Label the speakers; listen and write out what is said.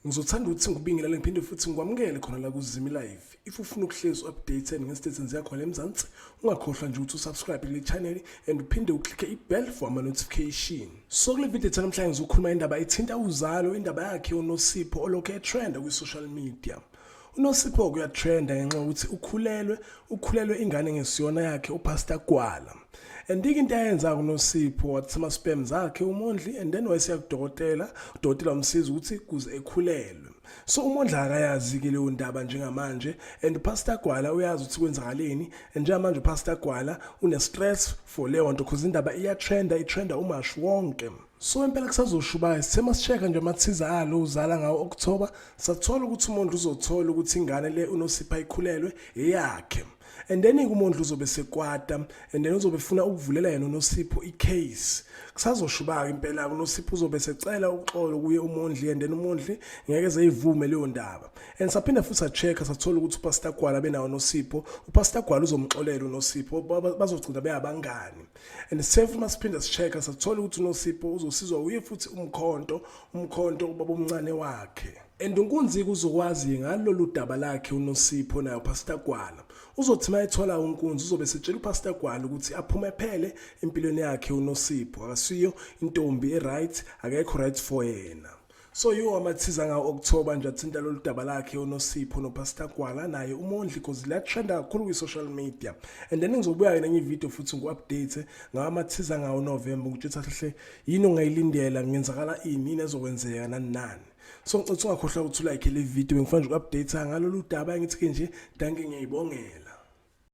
Speaker 1: ngizothanda ukuthi ngikubingelele ngiphinde futhi ngikwamukele khona la kuzimi live if ufuna ukuhlezi updated ngestate senziya khona emzansi ungakhohlwa nje ukuthi usubscribe kule channel and uphinde uklikhe ibell for ama-notification so kule video ethu namhlanje ngizokhuluma indaba ethinta uzalo indaba yakhe unosipho olokhu etrenda kwi-social media unosipho kuyatrenda ngenxa yokuthi ukhulelwe ukhulelwe ingane ngesiyona yakhe upastor gwala and ike into ayenza kunosipho wathi ama-spam zakhe umondli and then wayesiya kudokotela udokotela wamsiza ukuthi kuze ekhulelwe so umondla akayazi-ke leyo ndaba njengamanje and upastor gwala uyazi ukuthi kwenzakaleni and njengamanje upastor gwala une-stress for leyo nto because indaba iyatrenda itrenda umashi wonke So impela kusazoshubaya sithe masisheka nje amathiza alo uzala ngawo October sathola ukuthi uMondlo uzothola ukuthi ingane le unosipha ikhulelwe eyakhe and then kumondla uzobe sekwata and then uzobe funa ukuvulela yena unosipho icase kusazoshubaka impela unosipho uzobe secela uxolo kuye umondli and then umondli ngeke zeyivume leyo ndaba and saphinde futhi sachecka sathola ukuthi upastor gwala benawo nosipho upastor gwala uzomxolela unosipho bazogcina beyabangani and self uma siphinde sichecka sathola ukuthi unosipho uzosizwa uye futhi umkhonto umkhonto ubaba omncane wakhe and unkunzika uzokwazi ngalolu daba lakhe unosipho nayo pastor gwala uzothi uma ethola unkunzi uzobe setshela upastor gwala ukuthi aphume phele empilweni yakhe unosipho akasiyo intombi e-right akekho right for yena So yiwo amathiza ngawo okuthoba nje athinta lolu daba lakhe uNosipho noPastor Gwala naye uMondli cause liyatrenda kakhulu kwi-social media and then ngizobuya-ke nenye ividiyo futhi ngu-update ngawo amathiza ngawo uNovemba ukuthi uthi ahle yini ongayilindela ngenzakala ini yini ezokwenzeka nani nani so ngicela ukuthi ungakhohlwa ukuthi ulike le vidiyo bengifuna nje uku-update ngalolu daba engithi-ke nje danke ngiyayibongela